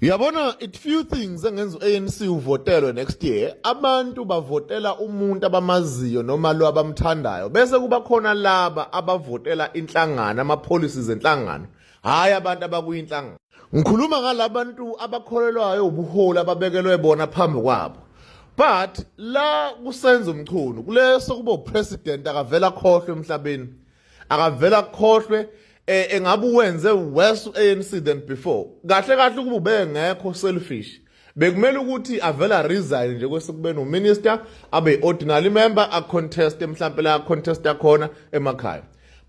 Uyabona it few things engenza uANC uvotelwe next year abantu bavotela umuntu abamaziyo noma lo abamthandayo bese kuba khona laba abavotela inhlangano ama policies enhlangano hayi abantu abakuyinhlangano ngikhuluma ngalabantu abakholelwayo ubuholi ababekelwe bona phambi kwabo but la kusenza umchunu kuleso kubo president akavela khohlwe emhlabeni akavela akukhohlwe eh engabe uwenze worse ANC than before kahle kahle ukuba ubengekho selfish bekumele ukuthi avela resign nje kwesekubeni uminister abe ordinary member a contest mhlambe la contest yakhona emakhaya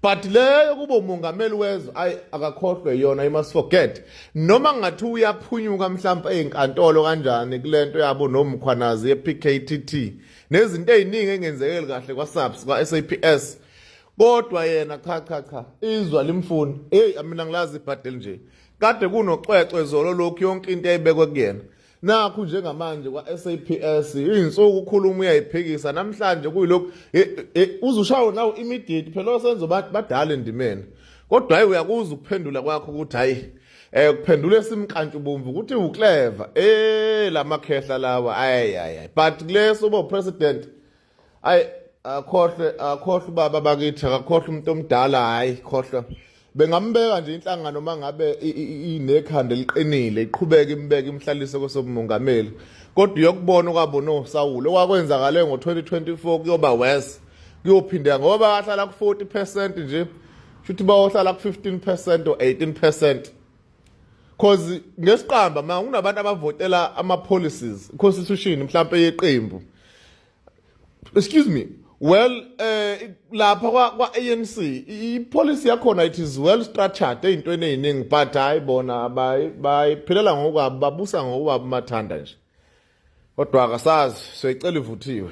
but leyo kuba umongameli wezwe ayi akakhohlwe yona you must forget noma ngathi uyaphunyuka mhlawumbe ezinkantolo kanjani kulento yabo nomkhwanazi yePKTT nezinto eziningi engenzekeli kahle kwaSAPS kwaSAPS kodwa yena cha cha cha izwa limfuni hey mina ngilazi ibhadeli nje kade kunoxwexwe zolo lokhu yonke into eyibekwe kuyena nakhu njengamanje kwa-SAPS iy'nsuku ukhuluma uyayiphikisa namhlanje kuyilokhu uzushawo nawo immediate phela osenzo badala endimeni kodwa hayi uyakuza ukuphendula kwakho ukuthi hayi eh kuphendula esimkantshu bomvu ukuthi uclever eh lamakhehla lawa ayi ayi but kuleso bo president ayi akhohlwe akhohlwe ubaba bakithi akakhohlwe umuntu omdala hayi khohlwa bengambeka nje inhlangano uma ngabe inekhanda eliqinile iqhubeke imbeke imhlalise kosobumongameli kodwa uyokubona okwabona osawulo okwakwenzakale ngo-2024 kuyoba worse kuyophindeka ngoba ahlala ku-40 percent nje shuthi bayohlala ku-15 percent or 18 percent cause ngesiqamba ma kunabantu abavotela ama policies constitution mhlawumbe yeqembu excuse me well eh lapha kwa, kwa ANC i policy yakhona it is well structured into eneyiningi but hayi bona bayi bayiphilela ngokwabo babusa ngokwabo mathanda nje kodwa akasazi soyicela ivuthiwe